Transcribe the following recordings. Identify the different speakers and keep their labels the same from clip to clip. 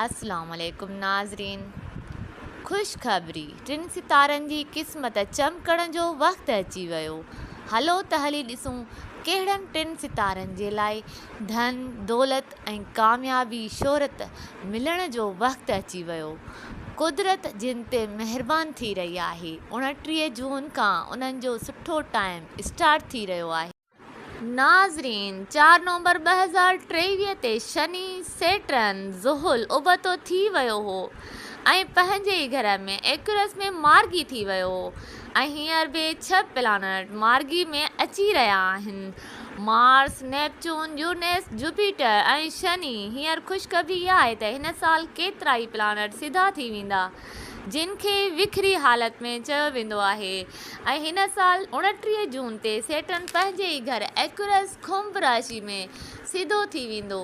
Speaker 1: السلام عليڪم ناظرين خوشخبري ٽن ستارن جي قسمت چمڪڻ جو وقت اچي ويو هلو ته هلي ڏسون ڪهڙن ٽن ستارن جي لاء ڌن دولت ۽ ڪاميابي شهرت ملڻ جو وقت اچي ويو قدرت جن تي مهربان ٿي رهي آهي اوڻٽيهه جون کان انهن جو سٺو ٽائيم اسٽارٽ ٿي رهيو آهي. ناظرين! چار نومبر ٻه هزار ٽيويهه تي شني، سيٽرن، زحل، ابتو ٿي ويو هو ۽ پنهنجي ئي گهر ۾ ايڪيورس ۾ مارگي ٿي ويو هو ۽ هينئر به ڇهه پلانيٽ مارگي ۾ اچي رهيا آهن. Mars, Neptune, Uranus, Jupiter ۽ Shani. هينئر خوشخبري اها آهي ته هن سال ڪيترائي پلانيٽ سڌا ٿي ويندا. جن کي وکري حالت ۾ چيو ويندو آهي ۽ هن سال اوڻٽيهه جون تي سيٽرن پنهنجي ئي گهر ايڪيورس ڪنڀ راشي ۾ سڌو ٿي ويندو.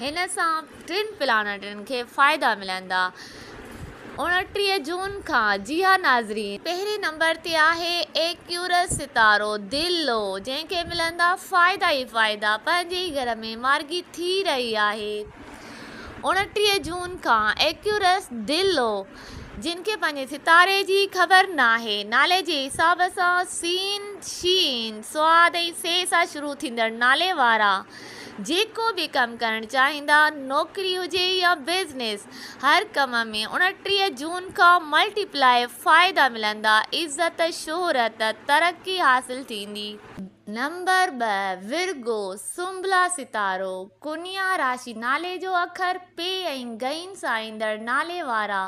Speaker 1: هن سان ٽن پلانيٽن کي فائدا ملندا. اوڻٽيهه جون کان جيئا ناظرين. پهرين نمبر تي آهي ايڪيورس ستارو دل لو جنهن کي ملندا فائدا ئي فائدا پنهنجي ئي گهر ۾ مارگي ٿي رهي آهي. اوڻٽيهه جون کان ايڪيورس دي لو، جنھن کي پنھنجي ستاري جي خبر ناھي، نالي جي حساب سان سين، شين، صاد ۽ سي سان شروع ٿيندڙ نالي وارا جيڪو به ڪم ڪرڻ چاھيندا، نوڪري ھجي يا بزنس، ھر ڪم ۾ اوڻٽيهه جون کان ملٽي پلائي فائدا ملندا، عزت، شھرت، ترقي حاصل ٿيندي. نمبر ٻه، ورگو، سنبلا ستارو، ڪنيا راشي نالي جو اکر، پي ۽ غين سان ايندڙ نالي وارا،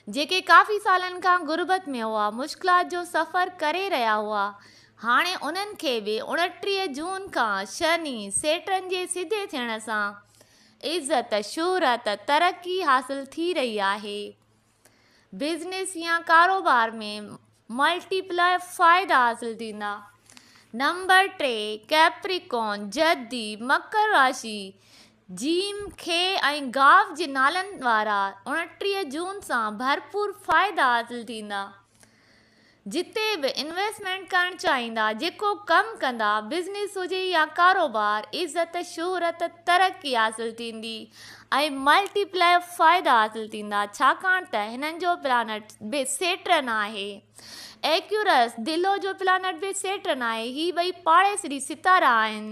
Speaker 1: جيڪي ڪافي سالن کان غربت ۾ هئا، مشڪلات جو سفر ڪري رهيا هئا، هاڻي انهن کي به اڻٽيهه جون کان شني، سيٽرن جي سڌي ٿيڻ سان عزت، شهرت، ترقي حاصل ٿي رهي آهي. بزنس يا ڪاروبار ۾ ملٽي پلائر فائدا حاصل ٿيندا. نمبر ٽي ڪيپريڪون، جدي، مڪر راشي، جيم، کي ۽ گاف جي نالن وارا، اڻٽيهه جون سان ڀرپور فائدا حاصل ٿيندا. جتي به انويسٽمينٽ ڪرڻ چاهيندا، جيڪو ڪم ڪندا، بزنس هجي يا ڪاروبار، عزت، شهرت، ترقي حاصل ٿيندي ۽ ملٽي پلائر فائدا حاصل ٿيندا، ڇاڪاڻ ته هنن جو پلانٽ به سيٽرن آهي. ايڪيورس، دلو جو پلانٽ به سيٽرن آهي، هي ٻئي پاڙيسري ستارا آهن.